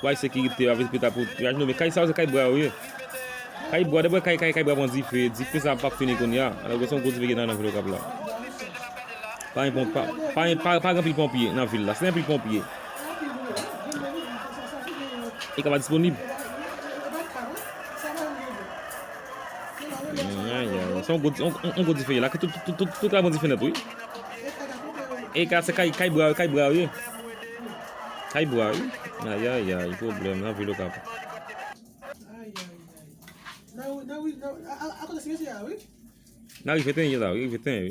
Why sekirite avèk pita pou traj nou men kay sa yo se kay bwa yo ye kay bwa dèbwè kay kay kay bwa pran dife dife sa pap fini kounya alò gwo son gwo dife gen nan vil okap la pa gen ponp pa gen pa gen anpil ponpye nan vil la si gen anpil ponpye e ka pa disponib son gwo son gwo dife la tout tout tout tout kay pran dife nèt wi e ka se kay kay bwa yo kay bwa yo ye Kay bwa wi. Ayayay pwoblèm nan vil okap. Nan rive ten ye la wi. Rive ten wi.